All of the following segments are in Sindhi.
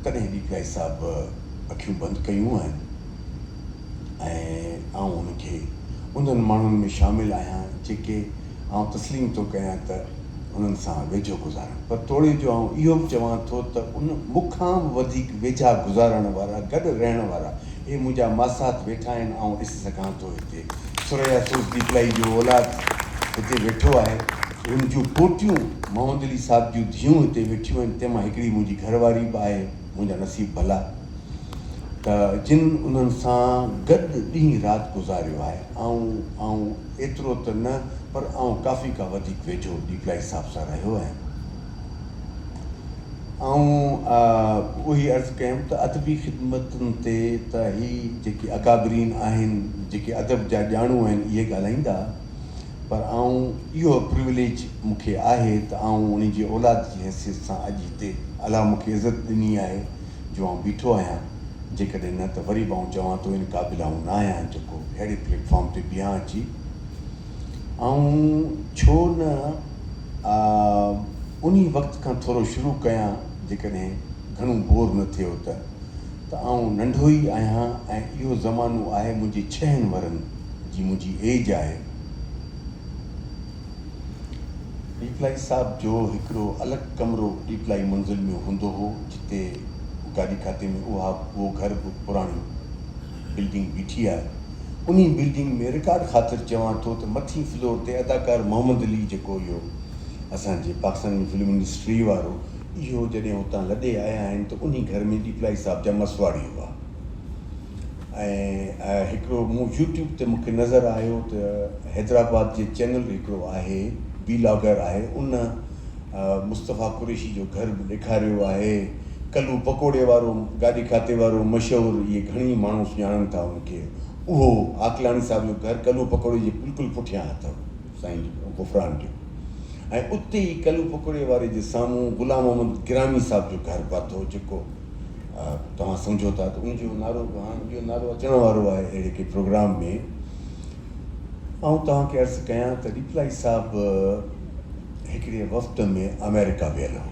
تڏهن ڏيپلائي صاحب اکيون بند ڪيون آهن ۽ آئون ان کي انهن ماڻهن ۾ شامل آهيان جيڪي آئون تسليم ٿو ڪيان ته انهن سان ويجهو گذارن پر توڙي جو آئون اهو به چوان ٿو ته ان مون کان به وڌيڪ ويجها گذارڻ وارا گڏ رهڻ وارا اهي منهنجا ماسات ويٺا آهن آئون ڏسي سگهان ٿو هتي ثريا سوز ڏيپلائي جو اولاد هتي ويٺو آهي. هن جون پوٽيون محمدعلي صاحب جون ڌيئون هتي ويٺيون آهن، تنهن مان هڪڙي منهنجي گهر واري به آهي، منهنجا نصيب ڀلا ته جن انهن سان گڏ ڏينهن رات گذاريو آهي. آئون آئون ايترو ته نه پر آئون ڪافي ڪا وڌيڪ ويجهو ڏيپلائي صاحب سان رهيو آهيان. آئون اهي عرض ڪيم ته ادبي خدمتن تي ته هي جيڪي اڪابرين آهن، جيڪي ادب جا ڄاڻو آهن، اهي ڳالهائيندا. پر آئون اهو پريوليج مون کي آهي ته آئون انهي جي اولاد جي حيثيت سان اڄ هتي الله مون کي عزت ڏني آهي جو آئون بيٺو آهيان جيڪڏهن نه ته وري به آئون چوان ٿو ان قابل آئون نه آهيان جيڪو اهڙي پليٽ فارم تي بيهان اچي آئون ڇو نه انهي وقت کان ٿورو شروع ڪيان جيڪڏهن گهڻو بور نه ٿيو ته ته آئون ننڍو ئي آهيان ۽ اهو زمانو آهي منهنجي ڇهن ورهن جي منهنجي ايج آهي. ڏيپلائي صاحب جو هڪڙو الڳ ڪمرو ڏيپلائي منزل ۾ هوندو هو جتي گاڏي کاتي ۾ اها اهو گهر به پراڻي بلڊنگ بيٺي آهي انهي بلڊنگ ۾ رڪارڊ خاطر چوان ٿو ته مٿين فلور تي اداڪار محمد علي جيڪو اهو اسان جي پاڪستان جي فلم انڊسٽري وارو اهو جڏهن اتان لڏي آيا آهن ته انهي گهر ۾ ڏيپلائي صاحب جا مسواڙي هئا ۽ آء هڪڙو مون يوٽيوب تي مونکي نظر آيو ته حيدرآباد جي چينل هڪڙو آهي ويلاگر آهي ان مصطفيٰ قريشي جو گهر به ڏيکاريو آهي ڪلو پڪوڙي وارو گاڏي کاتي وارو مشهور اهي گهڻي ماڻهو سڃاڻن ٿا ان کي اهو عاقلاڻي صاحب جو گهر ڪلو پڪوڙي جي بلڪل پٺيان اٿو. سائين غفران ڏيو ۽ اتي ئي ڪلو پڪوڙي واري جي سامهون غلام محمد گرامي صاحب جو گهر به اٿو جيڪو توهان سمجهو ٿا ته ان جو نالو به هاڻ اهو نالو اچڻ وارو آهي اهڙي ڪي پروگرام ۾ آئون توهان کي عرض ڪيان ته ڏيپلائي صاحب هڪڙي وفد ۾ آمريڪا ويل هو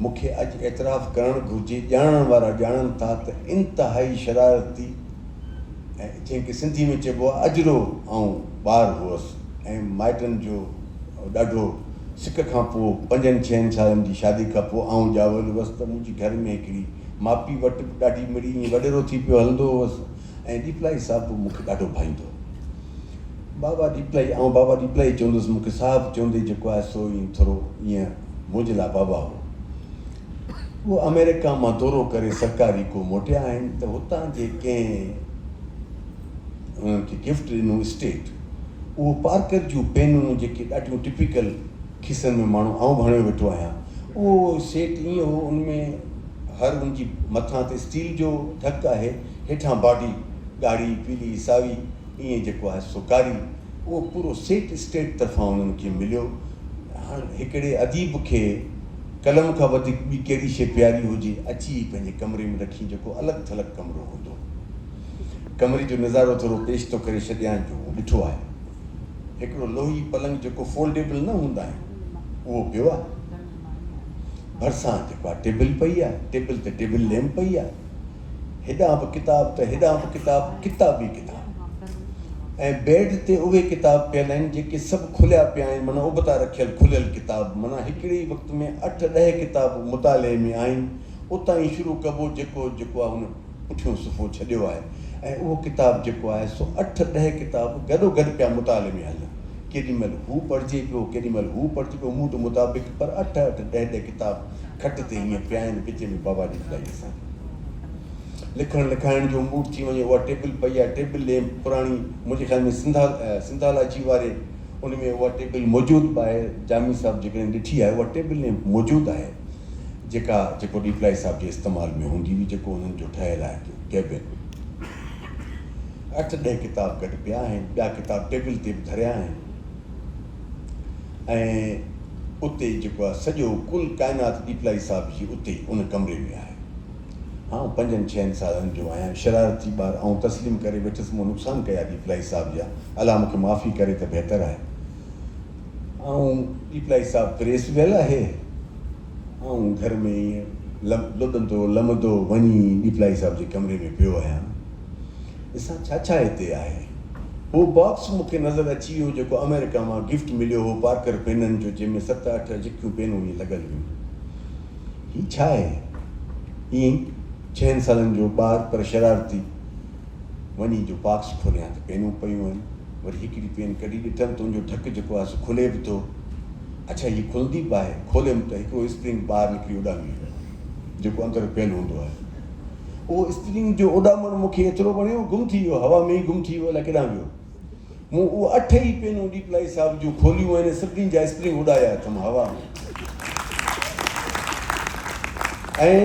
مون کي اڄ اعتراف ڪرڻ گهرجي ڄاڻڻ وارا ڄاڻن ٿا ته انتهائي شرارتي ۽ جنهن کي سنڌي ۾ چئبو آهي اجرو آئون ٻار هئس ۽ مائٽن جو ڏاڍو سڪ کان پوء پنجن ڇهن سالن جي شادي کان پوء آئون ڄاول هئس ته منهنجي گهر ۾ هڪڙي ماپي وٽ به ڏاڍي مڙئي ائين وڏيرو ٿي پيو هلندو هئس ۽ ڏيپلائي صاحب به مونکي ڏاڍو ڀائيندو هو بابا ڏيپلائي آئون بابا ڏيپلائي چوندس مونکي صاحب چوندي جيڪو آهي سو ائين ٿورو ائين منهنجي لاء بابا هو هو آمريڪا مان دورو ڪري سرڪاري ڪو موٽيا آهن ته هتان جي ڪنهن انهن کي گفٽ ڏنو اسٽيٽ اهو پارڪر جون پينون جيڪي ڏاڍيون ٽپيڪل کيسن ۾ ماڻهو آئون به هڻيو ويٺو آهيان اهو سيٽ ايئن هو ان ۾ هر ان جي مٿان تي اسٽيل جو ڍڪ آهي هيٺان باڊي ڳاڙهي پيلي ساوي ايئن جيڪو آهي سو ڪاري اهو پورو سيٽ اسٽيٽ طرفان انهن کي مليو هاڻ هڪڙي اديب کي قلم کان وڌيڪ ٻي ڪهڙي شيء پياري هجي، اچي ئي پنهنجي ڪمري ۾ رکين جيڪو الڳ ٿلڳ ڪمرو هوندو. ڪمري جو نظارو ٿورو پيش ٿو ڪري ڇڏيان جو مون ڏٺو آهي. هڪڙو لوهي پلنگ جيڪو فولڊيبل نه هوندا آهن اهو پيو آهي. ڀرسان جيڪا ٽيبل پئي آهي، ٽيبل تي ٽيبل ليمپ پئي آهي. هيڏانهن به ڪتاب ته هيڏانهن به ڪتاب، ڪتاب ئي ڪتاب. ۽ بيڊ تي اهي ڪتاب پيل آهن جيڪي سڀ کليا پيا آهن معنيٰ ابتا رکيل کليل ڪتاب معنيٰ هڪڙي ئي وقت ۾ اٺ ڏهه ڪتاب مطالعي ۾ آهن اتان ئي شروع ڪبو جيڪو جيڪو آهي هن پٺيون صفحو ڇڏيو آهي ۽ اهو ڪتاب جيڪو آهي سو اٺ ڏهه ڪتاب گڏو گڏ پيا مطالعي ۾ هلن ڪيڏي مهل هو پڙهجي پيو ڪيڏي مهل هو پڙهجي پيو موڊ مطابق پر اٺ اٺ ڏهه ڏهه ڪتاب کٽ تي ائين پيا آهن وچ ۾ بابا جي جدائي لکڻ لکائڻ جو موڊ ٿي وڃي اها ٽيبل پئي آهي ٽيبل ليمپ پراڻي منهنجي خيال ۾ سنڌا سنڌالاجي واري ان ۾ اها ٽيبل موجود به آهي جامي صاحب جيڪڏهن ڏٺي آهي اها ٽيبل ليمپ موجود آهي جيڪا جيڪو ڏيپلائي صاحب جي استعمال ۾ هوندي هئي جيڪو انهن جو ٺهيل آهي ڪيبن اٺ ڏهه ڪتاب گڏ پيا آهن ٻيا ڪتاب ٽيبل تي به ڌريا آهن ۽ اتي جيڪو آهي سڄو ڪل ڪائنات ڏيپلائي صاحب جي اتي ان ڪمري ۾ آهي. آئون پنجن ڇهن سالن جو آهيان، شرارتي ٻار آئون تسليم ڪري ويٺس مون نقصان ڪيا ڏيپلائي صاحب جا، الله مون کي معافي ڪري ته بهتر آهي. آئون ڏيپلائي صاحب پريس ويل آهي، آئون گهر ۾ ائين لڏندو لمندو وڃي ڏيپلائي صاحب جي ڪمري ۾ پيو آهيان. ڏسان ڇا ڇا هتي آهي. هو باڪس مون کي نظر اچي ويو جيڪو آمريڪا مان گفٽ مليو هو پارڪر پينن جو جنهن ۾ ست اٺ جڪيون پينون ائين لڳل هيون. هي ڇا آهي؟ ائين ڇهن سالن جو ٻار پر شرارتي وڃي جو باڪس کوليان ته پينون پيون آهن وري هڪڙي پين ڪڍي ڏٺم ته ان جو ڍڪ جيڪو آهي سو کلي به ٿو اڇا هي کلندي به آهي کوليم ته هڪڙو اسپرنگ ٻاهر نڪري اڏامي ويو جيڪو اندر پيل هوندو آهي. اهو اسپرنگ جو اڏامڻ مون کي ايترو وڻيو، گم ٿي ويو، هوا ۾ ئي گم ٿي ويو، الائي ڪيڏانهن ويو. مون اهي اٺ ئي پينون ڏيپلائي صاحب جون کوليون ۽ انهن سڀني جا اسپرنگ اڏايا اٿم هوا ۾. ۽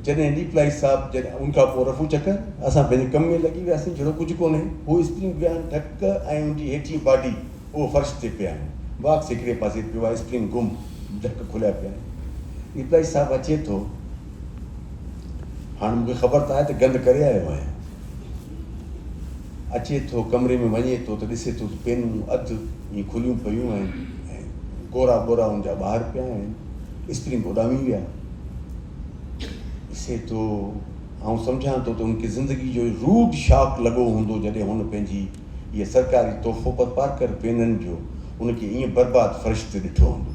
جڏهن ڏيپلائي صاحب جڏهن ان کان پوء رفو چڪر، اسان پنهنجي ڪم ۾ لڳي وياسين، جهڙو ڪجهه ڪونهي، هو اسپرنگ ويا آهن ڍڪ ۽ ان جي هيٺين باڊي اهو فرش تي پيا آهن، باڪس هڪڙي پاسي پيو آهي، اسپرنگ گم، ڍڪ کليا پيا آهن. ڏيپلائي صاحب اچي ٿو. هاڻ مون کي خبر ته آهي ته گند ڪري آيو آهيان. اچي ٿو ڪمري ۾ وڃي ٿو ته ڏسي ٿو ته پينون اڌ ائين کليون پيون آهن ۽ ڪورا ٻورا ان جا ٻاهر پيا آهن، اسپرنگ اڏامي ويا. ڏسي ٿو، آئون سمجهان ٿو ته ان کي زندگي جو روڊ شاڪ لڳو هوندو جڏهن هن پنهنجي اهي سرڪاري تحفو پر پارڪر پينن جو ان کي ائين برباد فرش تي ڏٺو هوندو.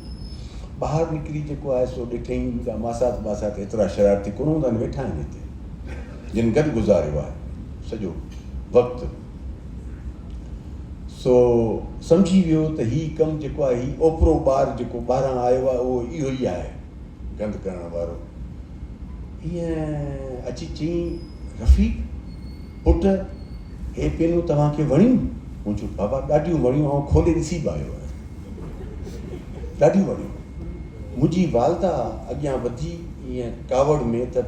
ٻاهر نڪري جيڪو آهي سو ڏٺئين، مونجا ماسات ٻاسات ايترا شرارتي ڪونه هوندا آهن، ويٺا آهن هتي، جن گڏ گذاريو آهي سڄو وقت، سو سمجهي ويو ته هي ڪم جيڪو آهي هي اوپرو ٻار جيڪو ٻاهران آيو آهي اهو اهو ئي آهي. گند ڪرڻ وارو ائين اچي چيائين رفيق پٽ هي پينون توهان کي وڻيون؟ مون چيو بابا ڏاڍيون وڻيون آئون کولي ڏسي به آيو آهيان ڏاڍيون وڻيون منهنجي والده اڳيان وڌي ائين ڪاوڙ ۾ ته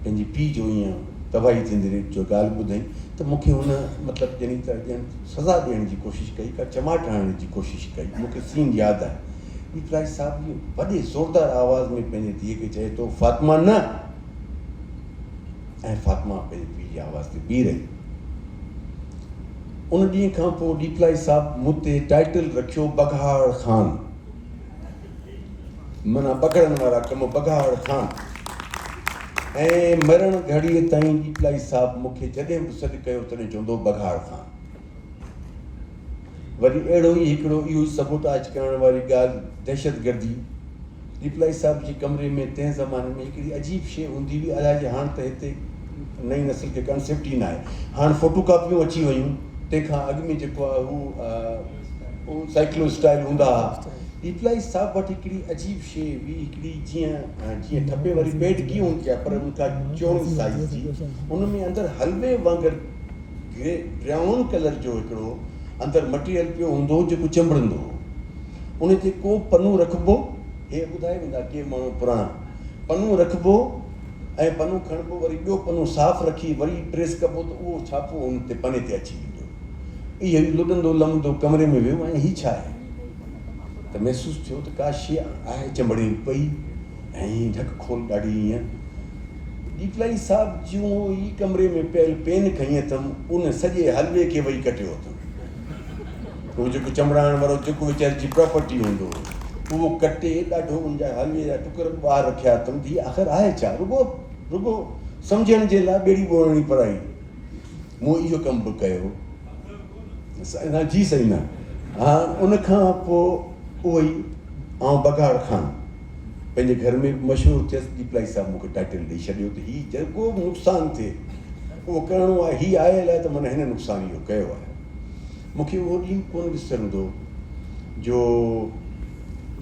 پنهنجي پيء جو ائين تباهي ٿيندي ريت جو ڳالهه ٻڌائين ته مون کي هن مطلب ڄڻي ته ڄڻ سزا ڏيڻ جي ڪوشش ڪئي ڪا چماٽ هڻڻ جي ڪوشش ڪئي مون کي سين ياد آهي پيترائي صاحب جي وڏي زوردار آواز ۾ پنهنجي ڌيء کي چئي ٿو، فاطمه نه! ۽ فاطمه پنهنجي پيء جي آواز تي بيهي رهي. ان ڏينهن کان پوء ڏيپلائي صاحب مون تي ٽائيٽل رکيو بگهاڙ خان. معنيٰ بگهڙن وارا ڪم بگهاڙ خان. ۽ مرڻ گهڙيء تائين ڏيپلائي صاحب مون کي جڏهن به سڏ ڪيو تڏهن چوندو هو بگهاڙ خان. وري اهڙو ئي هڪڙو اهو سبوٽاج ڪرڻ واري ڳالهه دهشتگردي. ڏيپلائي صاحب جي ڪمري ۾ تنهن زماني ۾ هڪڙي عجيب شيء هوندي هئي الائي جي هاڻ ته هتي نئين نسل کي ڪانسيپٽ ئي ناهي هاڻ فوٽو ڪاپيون اچي ويون تنهن کان اڳ ۾ جيڪو آهي هو سائيڪلو اسٽائيل هوندا ها ڏيپلائي صاحب وٽ هڪڙي عجيب شيء هئي هڪڙي جيئن جيئن ٺپي واري پيڊ ڪيئن هوندي آهي پر ان کان چوڻي سائيز جي ان ۾ اندر حلوي وانگر گري، براؤن، ڪلر جو هڪڙو اندر مٽيريل پيو هوندو هو جيڪو چنبڙندو هو. ان تي ڪو پنو رکبو، هي ٻڌائي ويندا ڪي ماڻهو پراڻا، پنو رکبو ۽ پنو کڻبو وري ٻيو پنو صاف رکي وري پريس ڪبو ته اهو ڇاپو ان تي پني تي اچي ويندو هو. اهو ئي لڏندو لمندو ڪمري ۾ ويو ۽ هي ڇا آهي؟ ته محسوس ٿيو ته ڪا شيء آهي چنبڙي پئي. ۽ ڍڪ کول ڏاڍي ايئن ڏيپلائي صاحب جون ئي ڪمري ۾ پيل پين کنئي اٿم ان سڄي حلوي کي وئي ڪٽيو اٿم اهو جيڪو چمڙائڻ وارو چڪ ويچاري جي پراپرٽي هوندو هو اهو ڪٽي ڏاڍو ان جا حلوي جا ٽڪر به ٻاهر رکيا اٿم ته هي آخر آهي ڇا رڳو رڳو سمجهڻ جي لاء ٻيڙي ٻوڙڻي پرائي مون اهو ڪم به ڪيو نه جي سائين نه ان کان پوء اهو ئي آئون بگهاڙ خان پنهنجي گهر ۾ به مشهور ٿيس، ڏيپلائي صاحب مون کي ٽائيٽل ڏئي ڇڏيو ته هي جيڪو به نقصان ٿئي اهو ڪرڻو آهي، هي آيل آهي ته معنيٰ هن نقصان اهو ڪيو آهي. مون کي اهو ڏينهن ڪونه وسرندو جو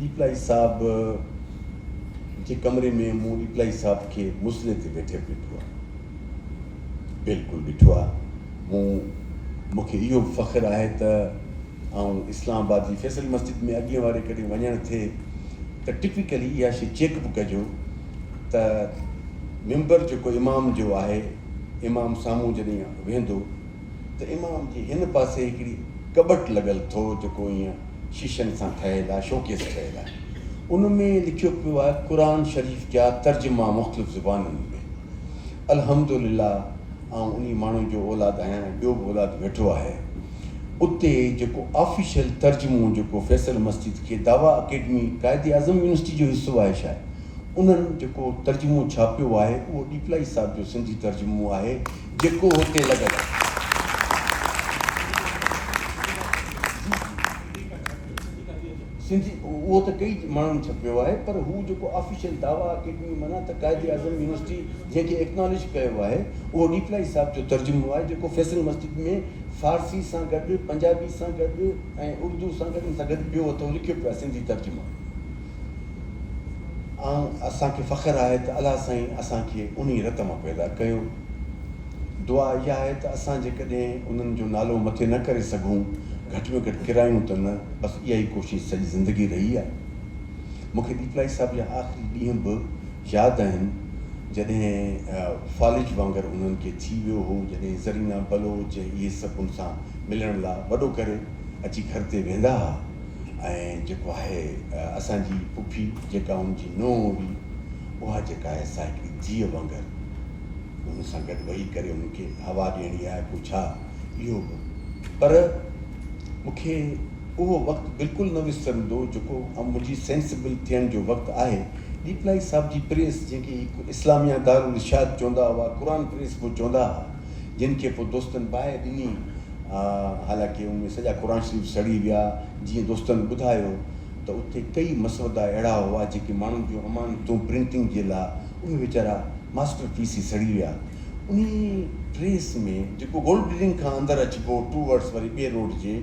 ڏيپلائي صاحب جي ڪمري ۾ مون ڏيپلائي صاحب کي مصلي تي ويٺي به ڏٺو آهي، بلڪل ڏٺو آهي، مون مون کي اهو به فخر آهي ته آئون اسلام آباد جي فيصل مسجد ۾ اڳين واري ڪڏهن وڃڻ ٿئي ته ٽپيڪلي اها شي چيڪ به ڪجو ته ممبر جيڪو امام جو آهي امام سامهون جڏهن ويهندو ته امام جي هن پاسي هڪڙي ڪٻٽ لڳل ٿو جيڪو ائين شيشن سان ٺهيل آهي شوڪيس ٺهيل آهي ان ۾ لکيو پيو آهي قرآن شريف جا ترجما مختلف زبانن ۾ الحمدلله آئون انهي ماڻهوء جو اولاد آهيان ۽ ٻيو به اولاد ويٺو آهي. اتي جيڪو آفيشل ترجمو جيڪو فيصل مسجد کي دعويٰ اڪيڊمي قائد اعظم يونيورسٽي جو حصو آهي شايد انهن جيڪو ترجمو ڇاپيو آهي اهو ڏيپلائي صاحب جو سنڌي ترجمو آهي جيڪو هتي لڳل آهي. سنڌي اهو ته ڪئي ماڻهن ڇپيو آهي پر هو جيڪو آفيشل دعويٰ اڪيڊمي معنيٰ ته قائد اعظم يونيورسٽي جنهن کي ايڪنالج ڪيو آهي اهو ڏيپلائي صاحب جو ترجمو آهي جيڪو فيصل مسجد ۾ فارسي سان گڏ پنجابي سان گڏ ۽ اردو سان گڏ ان سان گڏ ٻيو اٿو لکيو پيو آهي سنڌي ترجمو آهي اسان کي فخر آهي ته الله سائين اسان کي انهي رت مان پيدا ڪيو دعا اها آهي ته اسان جيڪڏهن انهن جو نالو مٿي نه ڪري سگهون گهٽ ۾ گهٽ ڪرايون ته نه بس اها ئي ڪوشش سڄي زندگي رهي آهي. مون کي ڏيپلائي صاحب جا آخري ڏينهن به ياد آهن، جڏهن فالج وانگر انهن کي ٿي ويو هو، جڏهن زرينه، بلوچ ۽ اهي سڀ ان سان ملڻ لا وڏو ڪري اچي گهر تي ويندا ها ۽ جيڪو آهي اسان جي پڦي جيڪا ان جي نونهن هئي اها جيڪا آهي سا هڪڙي ڌيء وانگر انهن سان گڏ وهي ڪري انهن کي هوا ڏيڻي آهي پوء ڇا اهو به پر مون کي اهو وقت بلڪل نه وسرندو جيڪو ام منهنجي سينسبل ٿيڻ جو وقت آهي. ڏيپلائي صاحب جي پريس جنهن کي هڪ اسلاميه دارالرشاد چوندا هئا قرآن پريس به چوندا ها جن کي پوء دوستن باهه ڏني حالانڪه ان ۾ سڄا قرآن شريف سڙي ويا جيئن دوستن ٻڌايو ته اتي ڪيئي مسودا اهڙا هئا جيڪي ماڻهن جون امانتون پرنٽنگ جي لا اهي ويچارا ماسٽر پيس ئي سڙي ويا. انهي ٽريس ۾ جيڪو گولڊ بلڊنگ کان اندر اچبو ٽوورڊز وري ٻي روڊ جي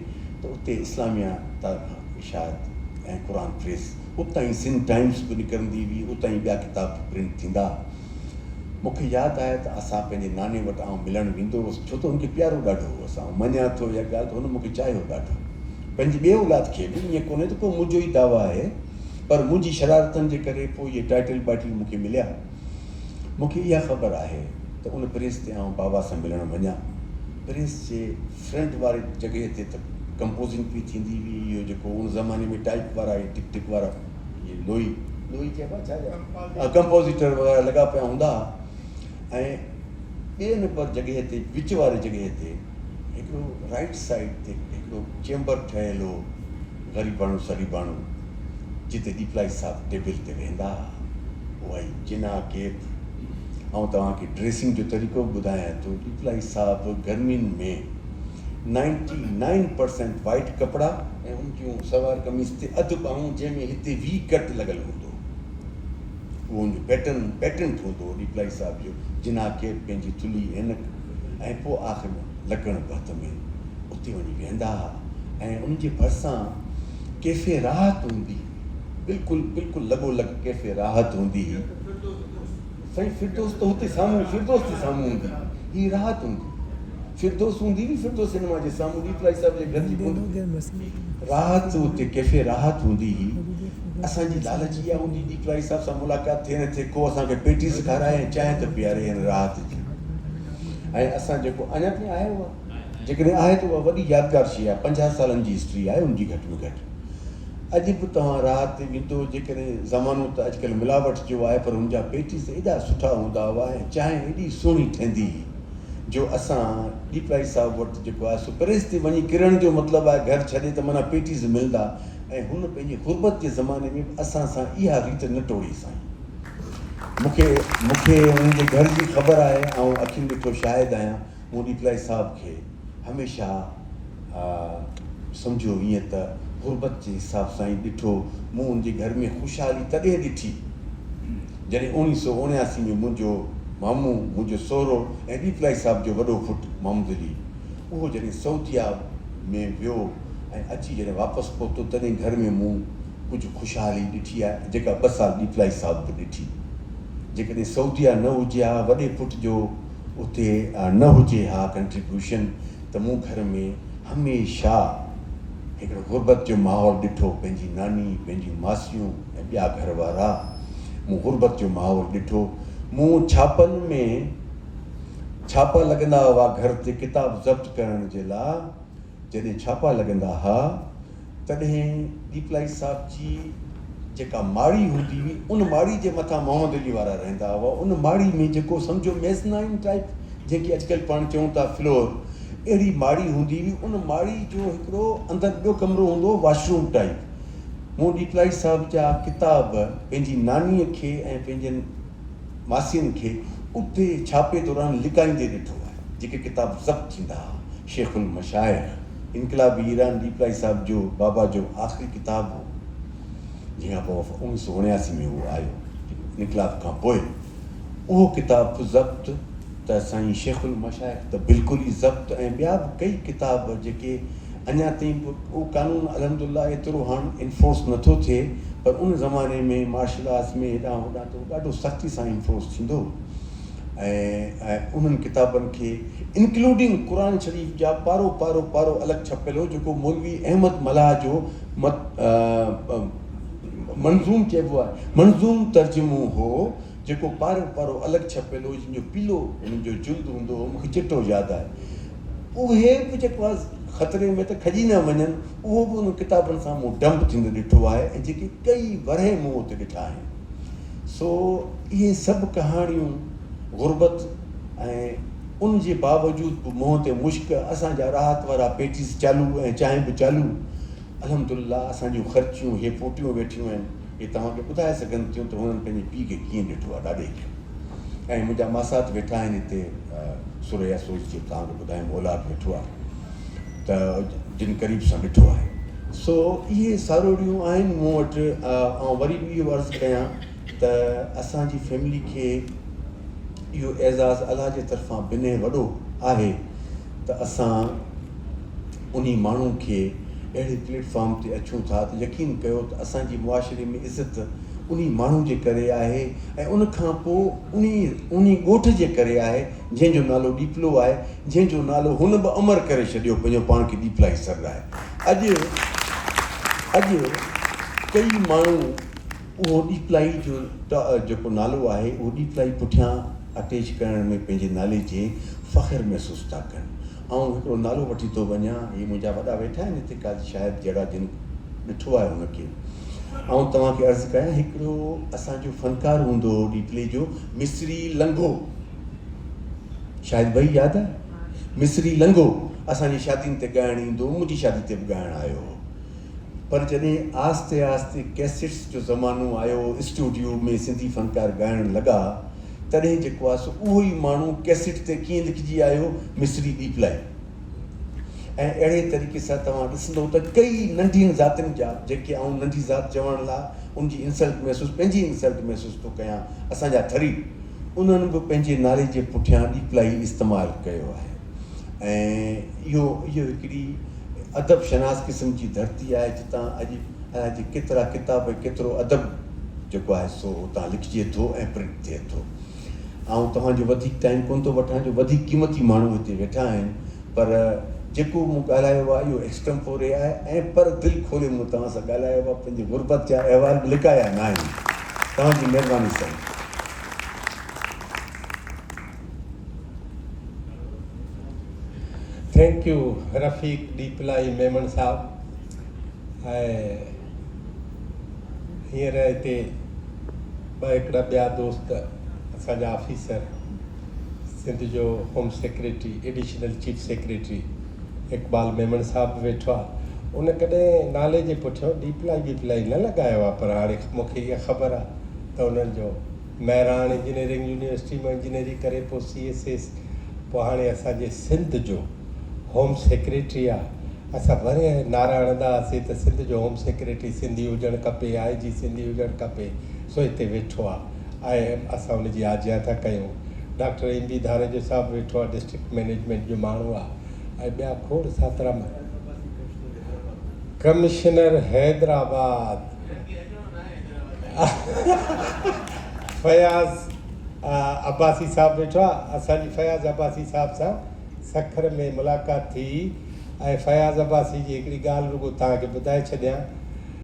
ته اتي اسلاميه طرفان اشاعت ۽ قرآن پريس اتان ئي سنڌ ٽائيمز به نڪرندي هئي اتان ئي ٻيا ڪتاب به پرنٽ ٿيندا ها مون کي ياد آهي ته اسان پنهنجي ناني وٽ آئون ملڻ ويندو هوس ڇو ته هن کي پيارو ڏاڍو هوس آئون مڃان ٿو اها ڳالهه ته هن مون کي چاهيو ڏاڍو پنهنجي ٻئي اولاد کي به ائين ڪونهي ته ڪو منهنجو ئي دعويٰ آهي پر منهنجي شرارتن جي ڪري پوء اهي ٽائيٽل ٻائيٽل مون کي مليا مون کي اها خبر آهي ته ان پريس تي آئون بابا سان ملڻ وڃان. پريس جي فرنٽ واري جڳهه تي ته ڪمپوزنگ پئي ٿيندي هئي، اهو جيڪو ان زماني ۾ ٽائيپ وارا اهي ٽڪ ٽڪ وارا اهي لوئي، لوئي چئبا ڇا چئبا ها ڪمپوزيٽر وغيره لڳا پيا هوندا ها ۽ ٻئي نمبر جڳهه تي وچ واري جڳهه تي هڪڙو رائيٽ سائيڊ تي هڪڙو چيمبر ٺهيل هو، غريباڻو سريباڻو، جتي ڏيپلائي صاحب ٽيبل تي ويهندا ها، اها ئي جناح ڪيپ. آئون توهان کي ڊريسنگ جو طريقو به ٻڌايان ٿو. ڏيپلائي صاحب گرمين ۾ نائنٽي نائن پرسينٽ وائيٽ ڪپڙا ۽ ان جون سلوار قميص تي اڌ ٻانهون جنهن ۾ هتي وي ڪٽ لڳل هوندو هو، اهو ان جو پيٽرن پيٽنٽ هوندو هو. ڏيپلائي صاحب جو جناح ڪيپ، پنهنجي ٿلهي عينڪ، ۽ پوء آخر ۾ لڪڻ به هٿ ۾ اتي وڃي ويهندا ها ۽ ان جي ڀرسان ڪيفي راحت هوندي هئي، بلڪل بلڪل لڳو لڳ ڪيفي راحت هوندي هئي، سائين فردوس ته هتي سامهون فردوس جي سامهون هوندي هئي، هي راحت هوندي هئي، فردوس هوندي هئي، فردوس سينما جي سامهون ڏيپ لائي صاحب جي گهر جي ڪنڊ تي هوندي هئي، راحت اتي ڪيفي راحت هوندي هئي، اسان جي لالچ اها هوندي هئي ڏيپ لائي صاحب سان ملاقات ٿئي نه ٿئي ڪو اسان کي پيٽي سکارائي ۽ چانهه ته پياري هن راحت جي. ۽ اسان جيڪو اڃا تائين آهي اها جيڪڏهن آهي ته اها وڏي يادگار شيء آهي پنجاهه سالن جي هسٽري آهي ان جي گهٽ ۾ گهٽ اڄ به توهان راهه تي ويندو جيڪڏهن زمانو ته اڄڪلهه ملاوٽ جو آهي پر ان جا پيٽيز ايڏا سٺا هوندا هئا ۽ چانهه ايڏي سهڻي ٺهندي هئي جو اسان ڏيپلائي صاحب وٽ جيڪو آهي سو پريس تي وڃي ڪرڻ جو مطلب آهي گهر ڇڏي ته معنيٰ پيٽيز ملندا ۽ هن پنهنجي غربت جي زماني ۾ به اسان سان اها ريت نه ٽوڙي سائين مون کي مون کي انهن جي گهر جي خبر آهي، آئون اکين ڏٺو شاهد آهيان، مون ڏيپلائي صاحب کي هميشه سمجهيو هئين ته غربت جي حساب سان ئي ڏٺو، مون ان جي گهر ۾ خوشحالي تڏهن ڏٺي جڏهن اوڻيهه سؤ اوڻياسي ۾ منهنجو مامو، منهنجو سهرو ۽ ڏيپلائي صاحب جو وڏو پٽ محمدعلي اهو جڏهن سعوديه ۾ ويو ۽ اچي جڏهن واپس پهتو تڏهن گهر ۾ مون ڪجهه خوشحالي ڏٺي آهي جيڪا ٻه سال ڏيپلائي صاحب به ڏٺي جيڪڏهن سعودي ها نه هجي ها وڏي پٽ جو اتي نه هجي ها ڪنٽريبيوشن ته مون گهر ۾ هميشه هڪڙو غربت جو ماحول ڏٺو پنهنجي ناني پنهنجيون ماسيون ۽ ٻيا گهر وارا مون غربت جو ماحول ڏٺو مون ڇاپن ۾ ڇاپا لڳندا هئا گهر تي ڪتاب ضبط ڪرڻ جي لاء جڏهن ڇاپا لڳندا ها تڏهن ڏيپلائي صاحب جي جيڪا ماڙي هوندي هئي ان ماڙي جي مٿان محمد علي وارا رهندا هئا ان ماڙي ۾ جيڪو سمجهو ميزنائن ٽائيپ جنهن کي اڄڪلهه پاڻ چئون ٿا فلور اهڙي ماڙي هوندي هئي ان ماڙي جو هڪڙو اندر ٻيو ڪمرو هوندو هو واش روم ٽائيپ مون ڏيپلائي صاحب جا ڪتاب پنهنجي ناني کي ۽ پنهنجن ماسين کي اتي ڇاپي دوران لڪائيندي ڏٺو آهي، جيڪي ڪتاب ضبط ٿيندا ها، شيخ المشائخ، انقلابي ايران ڏيپلائي صاحب جو بابا جو آخري ڪتاب هو، جنهن کان پوء اوهان اوڻيهه سؤ اڻياسي ۾ اهو آيو، انقلاب کان پوء اهو ڪتاب به ضبط. ته سائين شيخ المشائخ ته بلڪل ئي ضبط ۽ ٻيا به ڪئي ڪتاب جيڪي اڃا تائين به اهو قانون الحمد الله ايترو هاڻ انفورس نه ٿو ٿئي پر ان زماني ۾ مارشل آرٽس ۾ هيڏانهن هوڏانهن ته ڏاڍو سختي سان انفورس ٿيندو هو ۽ انهن ڪتابن کي انڪلوڊنگ قرآن شريف جا پارو پارو پارو الڳ ڇپيل هو جيڪو مولوي احمد ملاح جو منظوم چئبو آهي منظوم ترجمو هو جيڪو پارو پارو الڳ ڇپيل هو جن جو پيلو انهن جو جلد هوندو هو مون کي چٽو ياد آهي اهي به جيڪو آهي خطري ۾ ته کڄي نه وڃن اهو به انهن ڪتابن سان مون ڊمپ ٿيندو ڏٺو آهي ۽ جيڪي ڪئي ورهيه مون اتي ڏٺا آهن سو اهي سڀ ڪهاڻيون غربت ۽ ان جي باوجود به منهن تي مشڪ اسان جا راحت وارا پيٽيز چالو ۽ چانهه به چالو الحمد الله اسان جون خرچيون اهي ڦوٽيون ويٺيون آهن. اهي توهان کي ٻڌائي سگهن ٿيون ته هنن پنهنجي پيء کي ڪيئن ڏٺو آهي ڏاڏي کي. ۽ منهنجا ماسات ويٺا آهن هتي ثريا سوز جيئن توهان کي ٻڌايم اولاد ويٺو آهي ته جن قريب سان ڏٺو آهي. سو اهي ساروڙيون آهن مون وٽ. آئون وري به اهو عرض ڪيان ته اسان جي فيملي کي اهو اعزاز الله جي طرفان بنهه وڏو آهي ته اسان انهي ماڻهو کي اهڙي پليٽ فارم تي اچون ٿا ته يقين ڪيو ته اسان جي معاشري ۾ عزت انهي ماڻهو جي ڪري آهي ۽ ان کان پوء انهي انهي ڳوٺ جي ڪري آهي جنهن جو نالو ڏيپلو آهي جنهن جو نالو هن به امر ڪري ڇڏيو پنهنجو پاڻ کي ڏيپلائي سر لاء اڄ اڄ ڪئي ماڻهو اهو ڏيپلائي جو جيڪو نالو آهي اهو ڏيپلائي پٺيان اٽيچ ڪرڻ ۾ پنهنجي نالي جي فخر محسوس ٿا ڪن. آئون هڪڙو نالو وٺي ٿو وڃان، هي منهنجا وڏا ويٺا آهن هتي قاضي شاهد جهڙا جن ڏٺو آهي ان کي. آئون توهان کي عرض ڪيان هڪڙو اسان جو فنڪار هوندو هو ڏيپلي جو مصري لنگهو. شاهد ڀئي ياد آهي؟ مصري لنگهو اسان جي شادين تي ڳائڻ ايندو هو، منهنجي شادي تي به ڳائڻ آيو هو. پر جڏهن آهستي آهستي ڪيسيٽس جو زمانو آيو، اسٽوڊيو ۾ سنڌي فنڪار ڳائڻ لڳا، تڏهن جيڪو آهي سو اهو ئي ماڻهو ڪيسٽ تي ڪيئن لکجي آيو مصري ٻيپلائي ۽ اهڙي طريقي سان توهان ڏسندو ته ڪيئي ننڍين ذاتين جا جيڪي آئون ننڍي ذات چوڻ لاء ان جي انسلٽ محسوس پنهنجي انسلٽ محسوس ٿو ڪيان اسان جا ٿري انهن به پنهنجي نالي جي پٺيان ڏيپلائي استعمال ڪيو آهي ۽ اهو هڪڙي ادب شناس قسم جي ڌرتي آهي جتان اڄ جي ڪيترا ڪتاب ۽ ڪيترو ادب جيڪو آهي سو اتان لکجي ٿو ۽ پرنٽ ٿئي ٿو. آئون توهان جو وڌيڪ ٽائيم ڪونه ٿو وٺان جو وڌيڪ قيمتي ماڻهو هتي ويٺا آهن پر جيڪو مون ڳالهايو آهي اهو ايڪسٽمپوري آهي ۽ پر دل کولي مون توهان سان ڳالهايو آهي پنهنجي غربت جا احوال به لڪايا ناهن. توهان جي مهرباني سائين. ٿينڪ يو رفيق ڏيپلائي ميمڻ صاحب ھينئر ھتي ٻه ھڪڙا ٻيا دوست اسان جا آفيسر سنڌ جو home secretary additional chief secretary Iqbal Memon صاحب به ويٺو آ ان ڪڏھن نالي جي پٺيان ڏيپلائي ٻيپلائي نه لڳايو آ پر ھاڻي مونکي اھا خبر آ ته انھن جو مهراڻ انجنيئرنگ يونيورسٽي مان انجنيئري ڪري پوء سي ايس ايس پوء هاڻي اسان جي سنڌ جو هوم سيڪريٽري آ اسان وري نعرا هڻندا هئاسين ته سنڌ جو هوم سيڪريٽري سنڌي هجڻ کپي آء جي سنڌي هجڻ کپي سو هتي ويٺو آ ۽ اسان ان جي آجيان ٿا ڪيون ڊاڪٽر ايم بي ڌاريجو صاحب ويٺو آ ڊسٽرڪٽ مئنيجمينٽ جو ماڻهو آ ۽ ٻيا کوڙ ساترا ڪمشنر حيدرآباد. فياض عباسي صاحب ويٺو آ اسان جي فياض عباسي صاحب سان سکر ۾ ملاقات ٿي ۽ فياض عباسي جي هڪڙي ڳالهه رڳو توهان کي ٻڌائي ڇڏيان.